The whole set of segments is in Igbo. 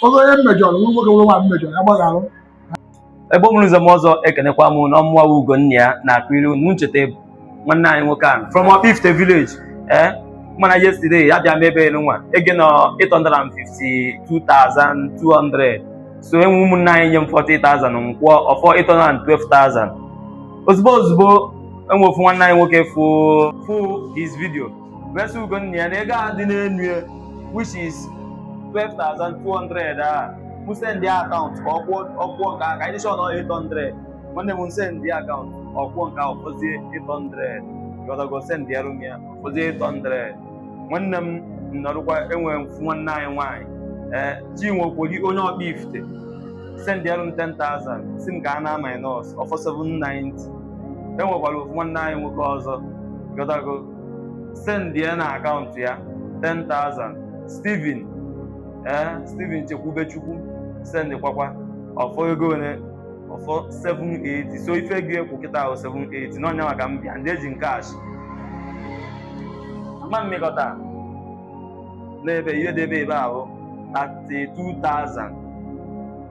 oge onye m mejọrọ ma nwoke ma nwaanyị m mejọrọ ya gbagharụ Igbo mụrụ nze mụọ ọzọ ekenekwa m unu ọ mụwa Ugonnaya na Agulu na ncheta nwanne anyị nwoke ahụ from Okpifite village ee mana yesterday ya bịa mebe elu nwa ego nọ 852,200 so e nwe ụmụnne anyị nye m 40,000 m kwụọ ọ fọ 812,000 ozugbo ozugbo e nwe ofu nwanne anyị nwoke fụ fụ this video wee sị Ugonnaya na ego a dị n'elu ya which is 12,200 a mụ sendịa akaụntụ ka ọ kwụọ ọ kwụọ nke a ka anyị chọọ na ọ 800 nwanne m sendịa akaụntụ ọ kwụọ nke a ọ fọzie 800 ghọtago sendịarụ m ya ọ fọzie 800 nwanne m nọrụkwa e nwere ofu nwanne anyị nwaanyị ee Chinwe Okoli onye Okpifite sendịarụ m 10,000 sị m ka a na-minus ọ fọ 790 e nwekwara ofu nwanne anyị nwoke ọzọ ghọtago sendịa na akaụntụ ya 10,000 Steven ee eh, Steven Chekwubechukwu send kwakwa ọ fọ ego one ọ fọ 780 so ife gị ekwu kịtaa wụ 780 na ọ nya maka m bịa ndị e ji na cash ma mmekọta n'ebe ihe debe ebe ahụ 32,000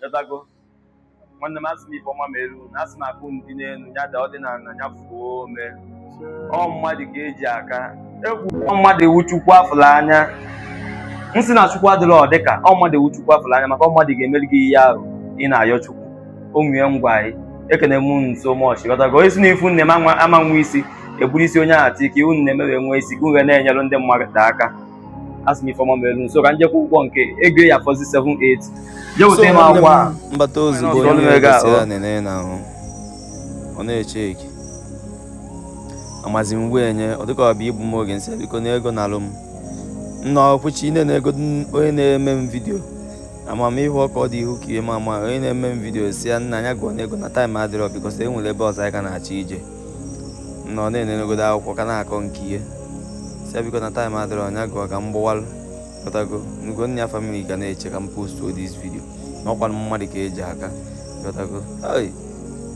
ghọtago nwanne m asị m ife ọma melu unu asị m akụ unu dị n'elu ya daa ọ dị n'ala ya fuo ome ọ mmadụ ka e ji aka egwu ọ mmadụ wụ chukwu a fụlụ anya m sị na chukwu adịrọ ọ dịka ọ mmadụ wụ chukwu a fụlụ anya maka ọ mmadụ ga-emere gị ihe ahụ ị na-ayọ chukwu o nwee ngwa anyị ekene m unu so much ghọtago onye sị na ife unu na-eme ama nwe isi e buru isi onye ahụ ati ka ihe unu na-eme wee nwee isi ka unu wee na-enyere ndị mmadụ aka asị m ife ọma meere unu so ka m je kwụọ ụgwọ nke ego ya fọzi 780 je weta m akwụkwọ a m bata ozugbo Onye onye ọzọ na-ege ahụ. na-egosi nene n'ahụ ọ na-eche eke amazi m wee nye ọ dịka ọ bụ igbu m oge m sị ya biko na ego na-alụ m nna ọkwụchi ine na-ego n- onye na-eme m vidio amamihe ọka ọ dị ihu ka ihe ma ama onye na-eme m vidio sị ya na ya gụọ na ego na time adịrọ because e nwere ebe ọzọ anyị ka na-achọ ije na ọ na-enenegodu akwụkwọ ka na-akọ nke ihe sị ya biko na time adịrọ nya gụọ ka m gbawalụ ghọtago na Ugonnaya family ga na-eche ka m postụọ this video na ọkwa mmadụ ka e ji aka ghọtago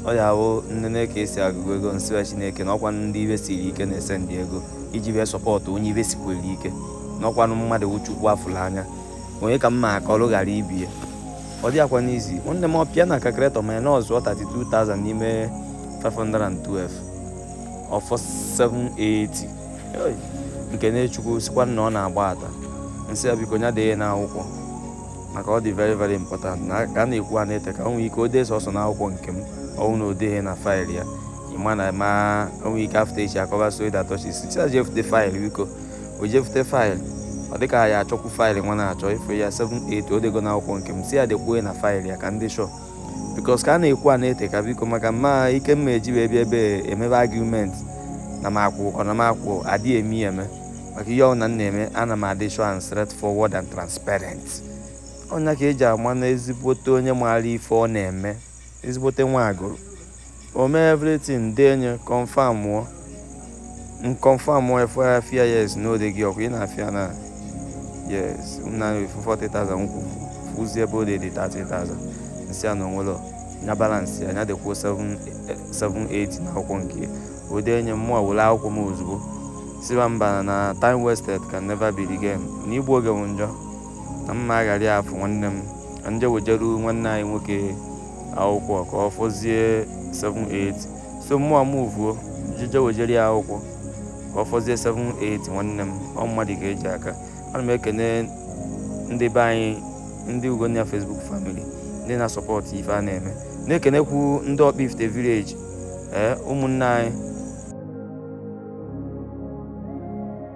ọ ya wụ nene ka e si agụkọ ego m sịwa chineke na ọkwa ndị ife siri ike na-esendị ego iji wee sọpọtụ onye ife sikwere ike na ọkwanụ mmadụ wụ chukwu a fụrụ anya onye ka mma akọlụ ghara ibe ya ọ dịrọkwanụ easy nwanne m ọ pịa na calculator minus-ụọ 32,000 n'ime 512 ọ fọ 780 m kene chukwu sịkwa na ọ na-agbata m sị ya biko nya dee n'akwụkwọ maka ọ dị very very important na ka a na-ekwu a na-ede ka o nwee ike o dee sọsọ n'akwụkwọ nke m ọ wụ na o deghị na faịlụ ya ị ma na ma o nwee ike after echi a kọba story that touches sị ya je fute faịlụ biko o jefute faịlụ ọ dịka ha ya achọkwu faịlụ nwa na-achọ ife ya 780 o dego n'akwụkwọ nke m sị ya dekwue na faịlụ ya ka m dị sure because ka a na-ekwu a na-ete ka biko maka mụwa ike mụwa eji wee bịa ebe emebe argument na m akwụ ọ na m akwụ adịghị eme ya eme maka ihe ọbụla m na-eme ana m adị sure and straightforward and transparent ọ nya ka eji ama na ezigbote onye maara ife ọ na-eme Ezigbote nwa Agụlụ. O mee everything dee nye confirmụọ. M confirmụọ efu afia yes na ode gị ọkwa ị na-afụ ya na yes m na efu 40,000 nkwụ fụzi ebe o delu 30,000 m sị ya na o nwere nya balansịa nya dekwuo 780 na akwụkwọ nke ya. o dee nye mụwa were akwụkwọ m ozugbo siba mba na time wasted can never be regained na igbu oge m njọ na mma aghara ya afụ nwanne m ka m je wejeru nwanne anyị nwoke akwụkwọ ka ọ fọzie 78 so mụwa m vuo jeje wejere ya akwụkwọ ka ọ fọzie 78 nwanne m ọ mmadụ ka eji aka ana m ekene ndị be anyị ndị Ugonna Facebook family ndị na-asupport ife a na-eme na-ekenekwu ndị Okpuifite village ee ụmụnne anyị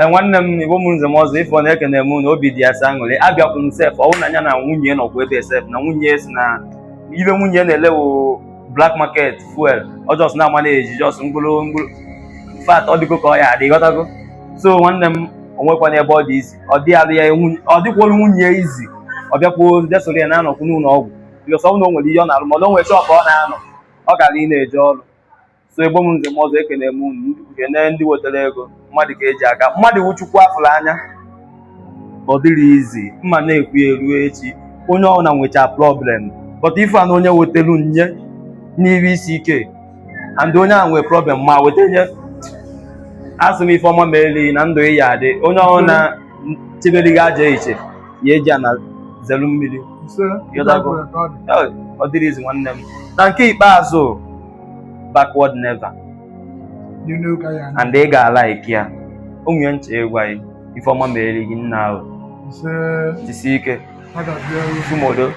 e, nwanne m igbo mụrụ nze na ọzọ ife ọ na-ekene m na obi dị ya sọ aṅụrị abịakwụ m sef ọwụ na ya na nwunye nọkwa ebe sef na nwunye sị na ife nwunye na-ele wụ black market fuel ọ just na-amanage just mkpụrụ mkpụrụ fat ọ dịgo ka ọ ya adị ghọtago so nwanne m o nwekwana ebe ọ dị easy ọ dị alụ ya ọ dịkwolu nwunye easy ọ bịakwuo desoro ya na-anọkwu n'ụlọ ọgwụ because ọ bụrụ na o nwere ihe ọ na-alụ mana o nwere shop ọ na-anọ ọ gara ị na-eje ọrụ so igbo m nze na ọzọ ekene m unu kene ndị wetara ego mmadụ ka eji aka mmadụ wụ Chukwu a fụrụ anya ọ dịrọ easy mụwa na-ekwu ya ruo echi onye ọbụla nwecha problem but ife a na onye wetelu nye n'iru isi ike and onye ahụ nwee problem ma weta nye asị m ife ọma meelu ị na ndụ ị ya adị onye ọbụla chebere gị ajọ uche ya eji ana zelu mmiri Ise, Yọdago. ọ dịrọ easy nwanne m na nke ikpeazụ backward never and ị ga-ala ike ya o nwere nche ịgwa gị ife ọma meere gị nna ahụ jisi ike tumodo